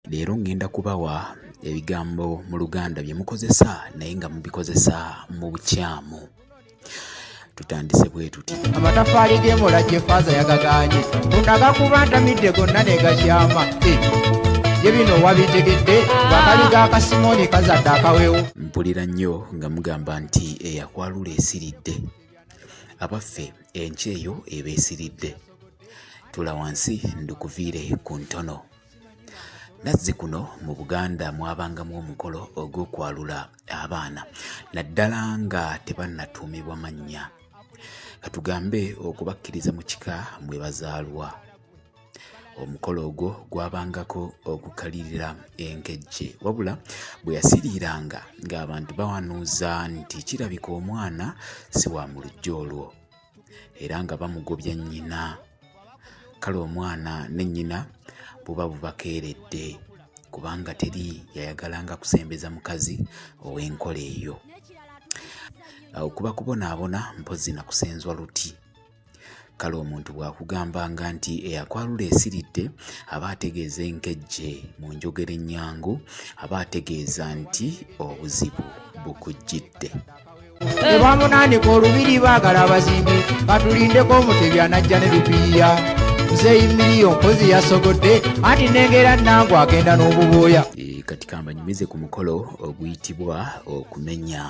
Leero ŋŋenda kubawa ebigambo mu Luganda bye mukozesa naye nga mubikozesa mu bukyamu. Tutandise bwe tuti. Amataffaali g'emola gye faaza yagagaanye munaga kuba ntamidde gonna ne gakyama eh, ye bino wabitegedde wakali ga kasimooni kazadde akawewo. Mpulira nnyo nga mugamba nti eyakwalula esiridde abaffe enkyeyo eba esiridde. Tula wansi ndukuviire ku ntono. nazzikuno mu buganda mwabangamu omukolo ogw'okwalula abaana naddala nga tebannatuumibwa mannya katugambe okubakkiriza mu kika mwe bazaalwa omukolo ogwo gwabangako okukalirira enkejje wabula bwe yasiriiranga ng'abantu bawanuuza nti kirabika omwana si wa mu lujja olwo era nga bamugobya nnyina kale omwana ne nnyina buba bubakeeredde kubanga teri yayagalanga kusembeza mukazi ow'enkola eyo okuba kubonaabona mpozzi na kusenzwa luti kale omuntu bw'akugambanga nti eyakwalula esiridde aba ategeeza enkejje mu njogera ennyangu aba ategeeza nti obuzibu bukujjidde ebamunanika olubiri bagala abazimbi batulindeko omutebi anajja ne lupiiya muzeeyi miliyo mpozi yasogodde anti nengera nangu agenda n'obubuuya e, kati kambanyumize ku mukolo oguyitibwa okumenya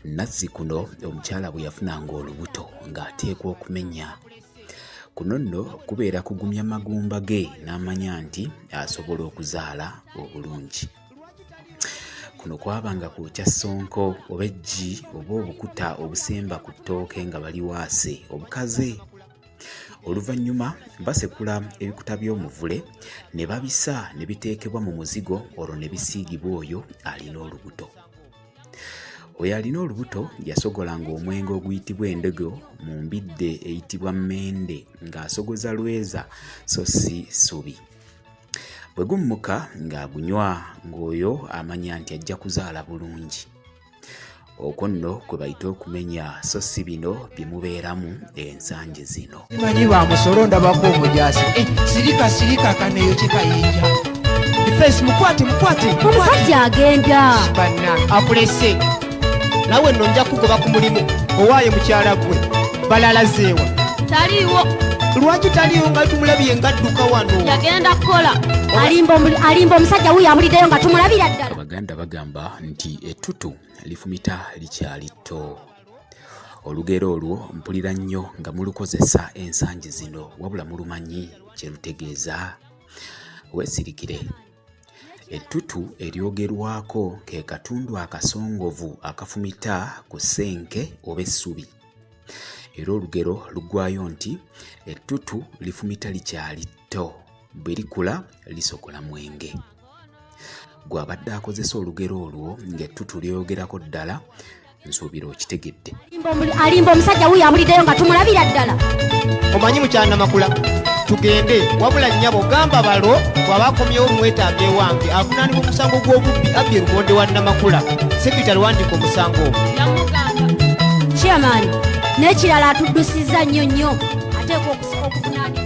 nazzi kuno omukyala bwe yafunanga olubuto ng'ateekwa okumenya kuno nno kubeera kugumya magumba ge n'amanya nti asobola okuzaala obulungi kuno kwabanga kwokya ssonko oba eggi oba obukuta obusemba ku ttooke nga bali waase obukaze oluvannyuma basekula ebikuta by'omuvule ne babisa ne biteekebwa mu muzigo olwo ne bisiigibwa oyo alina olubuto oyo alina olubuto yasogolanga omwenge oguyitibwa endogo mu mbidde eyitibwa mmende ng'asogoza lweza so si subi bwe gummuka ng'agunywa ng'oyo amanya nti ajja kuzaala bulungi okwo nno kwe bayita okumenya so si bino bye mubeeramu ensangi zino manyi ba musolo ndabako omujaasi eh, sirika sirika kaneeyo kye kayinja efeesi mukwate mukwate musajja agenda banna akulese nawe nno nja kugoba ku mulimu owaayo mukyala gwe balala zeewa taliiwo lwaki taliiwo nga tumulabye nga dduka wano yagenda kukola alimba omusajja wuyo amuliddeyo nga tumulabira ddala abaganda bagamba nti ettutu lifumita likyali tto olugero olwo mpulira nnyo nga mulukozesa ensangi zino wabula mulumanyi kye lutegeeza weesirikire Ettutu eryogerwako ke katundu akasongovu akafumita ku ssenke oba essubi. Era olugero luggwayo nti ettutu lifumita likyali tto, bwe likula lisokola mwenge. Gw'abadde akozesa olugero olwo ng'ettutu lyoyogerako ddala nsuubira okitegedde alimba omusajja wuyo abuliddeyo nga tumulabira ddala omanyi mukyanamakula tugende wabula nnyabo gamba balo bwaba akomyewo omwetaaga ewange avunaanibwa omusango gw'obubbi abbye lumonde wa namakula sekitale wandika omusango ogwo chairman n'ekirala atuddusizza nnyo nnyo ateekwa okuvunaanibwa